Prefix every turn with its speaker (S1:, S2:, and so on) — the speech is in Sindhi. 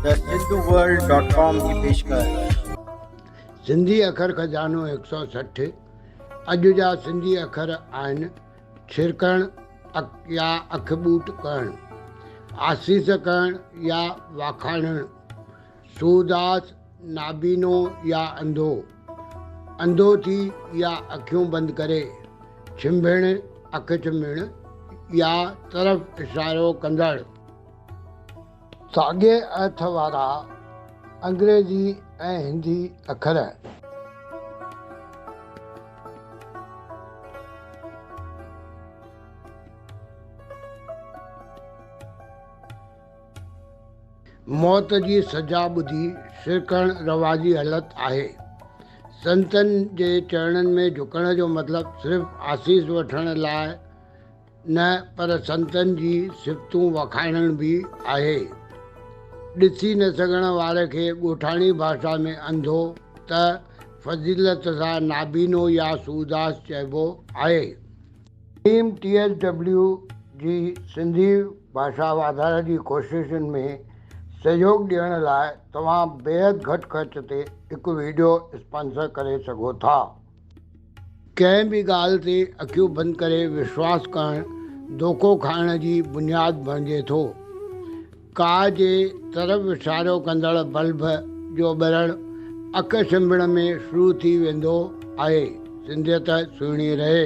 S1: ته سنڌو
S2: ورلڊ ڊاٽ ڪام جي پيشڪش. سنڌي اکر خزانو هڪ سؤ سٺ اڄ جا سنڌي اکر آهن ڇرڪڻ اک يا اک ٻوٽ ڪهڻ آسيس ڪهڻ يا واکاڻڻ سوڌاس نابينو يا انڌو انڌو ٿي يا اکيون بند ڪري ڇنڀڻ اک ڇنڀڻ يا طرف اشارو ڪندڙ. ساڳئي ايٿ وارا انگريزي ۽ هندي اکر. موت جي سزا ٻڌي سرڪڻ رواجي هلت آهي. سنتن جي چرڻن ۾ جهڪڻ جو مطلب صرف آسيس وٺڻ لاء. نه پر سنتن جي صفتون وکائڻ به آهي. ڏسي نه سگهڻ واري کي ڳوٺاڻي ڀاشا ۾ انڌو ته فضيلت سان نابينو يا سوداس چئبو آهي. حڪيم ٽي ايس ڊبليو جي سنڌي ڀاشا واڌاري جي ڪوششن ۾ سهيوڳ ڏيڻ لاء توهان بيحد گهٽ خرچ تي هڪ ويڊيو اسپانسر ڪري سگهو ٿا. ڪنهن به ڳالهه تي اکيون بند ڪري وشواس ڪرڻ دوکو کائڻ جي بنياد بڻجي ٿو. ڪاء جي طرف اشارو ڪندڙ بلب جو ٻرڻ اک ڇنڀڻ ۾ شروع ٿي ويندو آهي. سنڌيت سهڻي رهي.